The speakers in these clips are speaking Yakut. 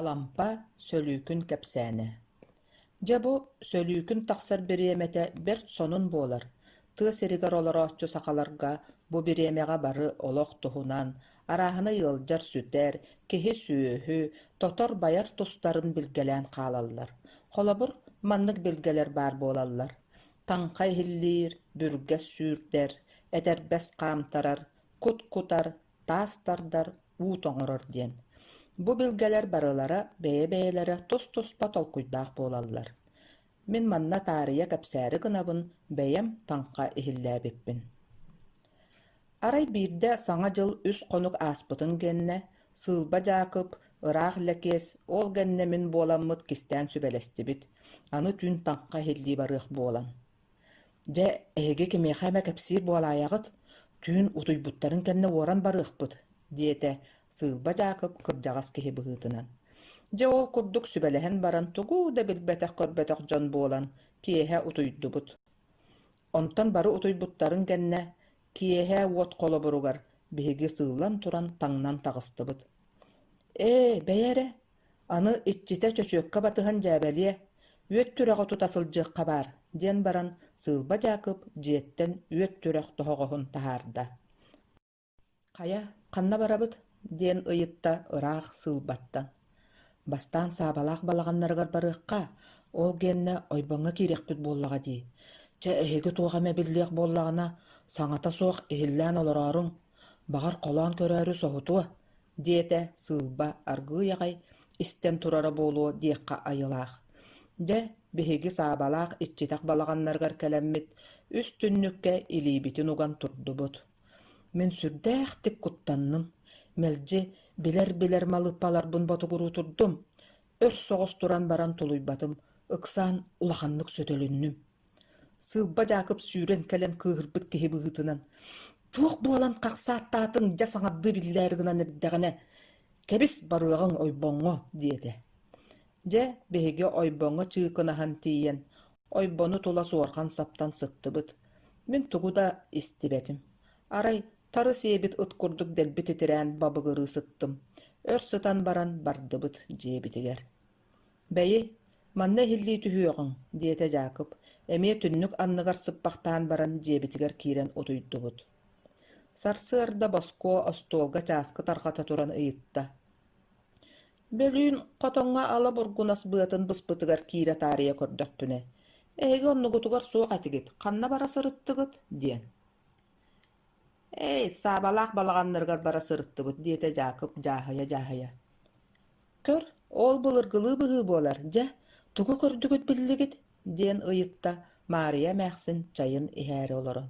Алампа сөлүүкүн кэпсээнэ Дьэ бу сөлүүкүн тахсар бириэмэтэ бэрт сонун буолар, тыа сиригэр олорооччу сахаларга бу бириэмэҕэ бары олох туһунан, арааһынай ыалдьар сүтэр, киһи-сүөһү, тотор-байар тустарын билгэлээн хаалаллар. Холобур, маннык билгэлэр баар буолаллар: таҥха иһиллиир, бүргэс сүүрдэр, этэрбэс хаамтарар, кут кутар, таас тардар, уут оҥорор диэн. Бу билгэлэр барылара бэйэ-бэйэлэрэ тус-туспа толкуйдаах буолаллар. Мин манна таарыйа кэпсээри гынабын, бэйэм таҥха иһиллээбиппин Арай биирдэ Саҥа дьыл үс хонук ааспытын гэннэ, Сыылба Дьаакып, ыраах Лэкиэс, ол гэннэ мин буоламмыт кистээн сүбэлэстибит, аны түүн таҥха иһиллии барыах буолан Дьэ, эһиги кимиэхэ эмэ кэпсиир буолаайаҕыт, түүн утуйбуттарын кэннэ уоран барыахпыт, диэтэ Сыылба Дьаакып кырдьаҕас киһи быһыытынан. Дьэ, ол курдук сүбэлэһэн баран тугу да билбэтэх-көрбөтөх дьон буолан киэһэ утуйдубут. Онтон бары утуйбуттарын кэннэ киэһэ уот холобуругар биһиги сыыллан туран таҥнан таҕыстыбыт. «Ээ, бэйи эрэ, Аны иччитэ чөчүөккэ батыһан дьээбэлиэ, үөт түрэҕи тута сылдьыахха баар, диэн баран Сыылба Дьаакып дьиэттэн үөт түрэх тоһоҕоһун таһаарда. «Хайа, ханна барабыт?» диэн ыйытта ыраах Сыылбаттан. «Бастаан Саабалаах балаҕаннарыгар барыахха, ол гиэннэ ойбоҥҥо киириэхпит буоллаҕа дии. Чэ, эһиги туох эмэ биллиэх буоллаҕына, саҥата суох иһиллээн олорооруҥ» Баҕар, холоон көрөөрү соһутуо, диэтэ Сыылба аргыый аҕай истэн турара буолуо диэххэ айылаах. Дьэ, биһиги Саабалаах иччитэх балаҕаннарыгар кэлэммит, үс түннүккэ илиибитин уган турдубут. Мин сүрдээхтик куттанным, мэлдьи билэр-билэр малыыппаларбын ботугуруу турдум, өр соҕус туран баран тулуйбатым, ыксаан улаханнык сөтөлүннүм Сыылба Дьаакып сүүрэн кэлэн кыыһырбыт киһи быһыытынан «туох буолан хахсааттаатыҥ дьэ саҥардыы биллээри гынан эрдэҕинэ кэбис барыаҕыҥ ойбоҥҥо» диэтэ. Дьэ биһиги ойбоҥҥо чыыкынаһан тиийэн ойбону тула суорҕан-саптан сыттыбыт. Мин тугу да истибэтим. Арай тары сиэбит ыт курдук дэлби титирээн бабыгырыы сыттым. Өр сытан баран бардыбыт дьиэбитигэр «Бэйи, манна иһиллии түһүөҕүҥ», диэтэ Дьаакып, эмиэ түннүк анныгар сыппахтаан баран дьиэбитигэр киирэн утуйдубут. Сарсыарда Боскуо остуолга чааскы тарҕата туран ыйытта: «Бөлүүн хотоҥҥо ала бургунас быатын быспытыгар киирэ таарыйа көрдөхпүнэ, эһиги оннугутугар суох этигит, ханна бара сырыттыгыт?» диэн. Эй, Саабалаах балаҕаннарыгар бара сырыттыбыт, диэтэ Дьаакып дьааһыйа-дьааһыйа. Көр, ол былыргылыы быһыы буолар, дьэ, тугу көрдүгүт биллигит? диэн ыйытта Маарыйа эмээхсин чайын иһээри олорон.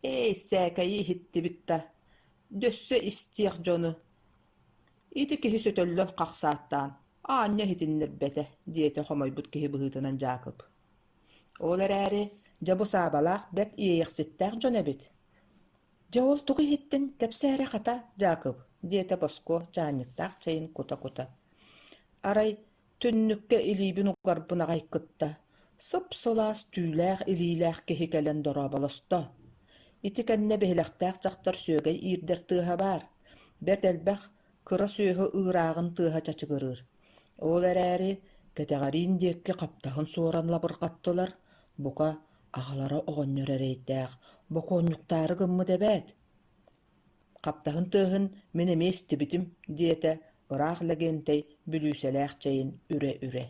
Эй, сээкэйи иһиттибит да, дөссө истиэх дьону. Ити киһи сөтөллөн хахсааттаан, аанньа иһитиннэрбэтэ, диэтэ хомойбут киһи быһыытынан Дьаакып. Ол эрээри, дьэ, бу Саабалаах бэрт иэйэхситтээх дьон эбит. «Дьэ, ол тугу иһиттиҥ, кэпсээри, хата, Дьаакып?» диэтэ Боско чаанньыктаах чэйин кута-кута. Арай түннүккэ илиибин угарбын аҕай кытта, сып-сылаас түүлээх илиилээх киһи кэлэн дорооболосто: «Ити кэннэ биһилэхтээх дьахтар сүөгэй иирдэр тыаһа баар, бэрт элбэх кыра сүөһү ыырааҕын тыаһа чачыгырыыр. Ол эрээри, кэтэҕэриин диэкки хаптаһын суоран лабырҕаттылар, бука, аҕалара оҕонньор эрэйдээх, бокуонньуктаары гыммыт эбээт Хаптаһын тыаһын мин эмиэ истибитим, диэтэ ыраах Лэгиэнтэй бүлүүсэлээх чэйин үрэ-үрэ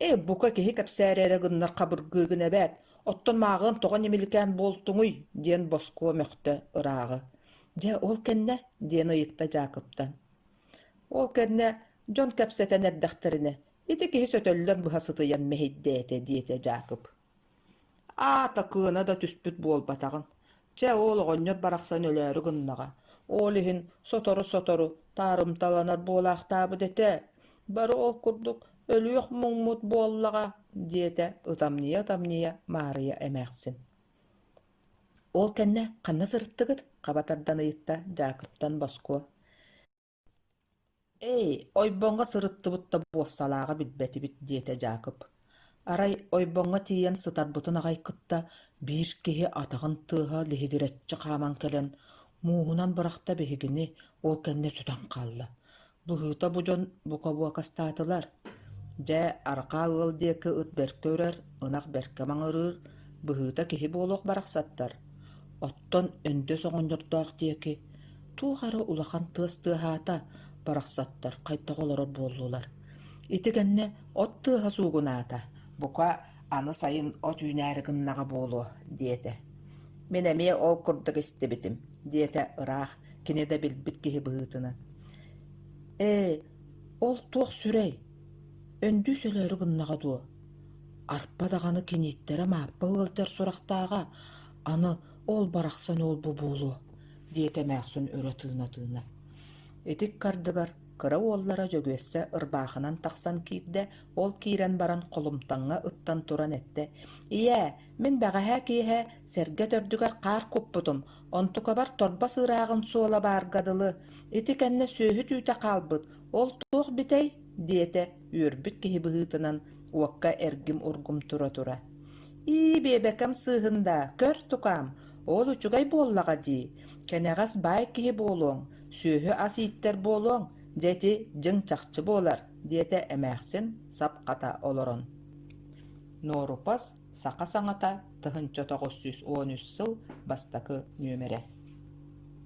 Ээ, бука, киһи кэпсээри эрэ гыннар хабыргыы гын эбээт, оттон мааҕыам тоҕо ньимиликээн буолтуҥуй? диэн босхо мөхтө ырааҕы. Дьэ, ол кэннэ, диэн ыйытта Дьаакыптан. Ол кэннэ дьон кэпсэтэн эрдэхтэринэ, ити киһи сөтөллөн быһа сытыйан мэһэйдээтэ, диэтэ Дьаакып. Аата кыана да түспүт буолбатаҕын, чэ ол оҕонньор барахсан өлөөрү гыннаҕа, ол иһин сотору-сотору таарымталанар буолаахтаабыт этэ, бары ол курдук өлүөх муҥмут буоллаҕа, диэтэ ытамньыйа-ытамньыйа Маарыйа эмээхсин Ол кэннэ ханна сырыттыгыт? хаба тардан ыйытта Дьаакыптан Боско Эй, ойбоҥҥо сырыттыбыт да буоссалааҕа билбэтибит, диэтэ Дьаакып. Арай ойбоҥҥо тиийэн сытарбытын аҕай кытта биир киһи атаҕын тыаһа лиһигирэччи хааман кэлэн, мууһунан бырахта биһигини, ол кэннэ сүтэн хаалла. Быһыыта бу дьон бука буокастаатылар. Дьэ, арҕаа ыал диэки ыт бэркэ үрэр, ынах бэркэ маҥырыыр, быһыыта киһи буолуох барахсаттар. Оттон Өндөс оҕонньордоох диэки Туох эрэ улахан тыас тыаһаата, барахсаттар хайдах олорор буоллулар. Ити кэннэ от тыаһа суугунаата, бука, аны сайын от үүнээри гыннаҕа буолуо, диэтэ. Мин эмиэ ол курдук истибитим, диэтэ ыраах, кини да билбит киһи быһыытынан. «Ээ, ол туох сүрэй? Өндүү сөлөөрү гыннаҕа дуо? Арпа даҕаны киниттэрэ Мааппа ыалдьар сурахтааҕа, аны ол барахсан уол бу буолуо. диэтэ эмээхсин өрө тыына-тыына. Итик кардыгар кыра уоллара Дьөгүөссэ ырбаахынан тахсан киирдэ, ол киирэн баран холумтаҥҥа ыттан туран эттэ, «Ийээ, мин бэҕэһээ киэһэ сэргэ төрдүгэр хаар куппутум, онтукабар торбо сыырааҕын суола баарга дылы, ити кэннэ сүөһү түүтэ хаалбыт, ол туох битэй?» диэтэ үөрбүт киһи быһыытынан уокка эргим-ургум тура-тура. «Ии, биэбэкэм сыыһын даа, көр, тукаам, Ол үчүгэй буоллаҕа дии, кэнэҕэс баай киһи буолуоҥ, сүөһү-ас ииттэр буолуоҥ, дьэ ити дьиҥ чахчы буолар, диэтэ эмээхсин сапхата олорон. Нуорупас саха саҥата тыһыынча тоҕус сүүс уон үс сыл бастакы нүөмэрэ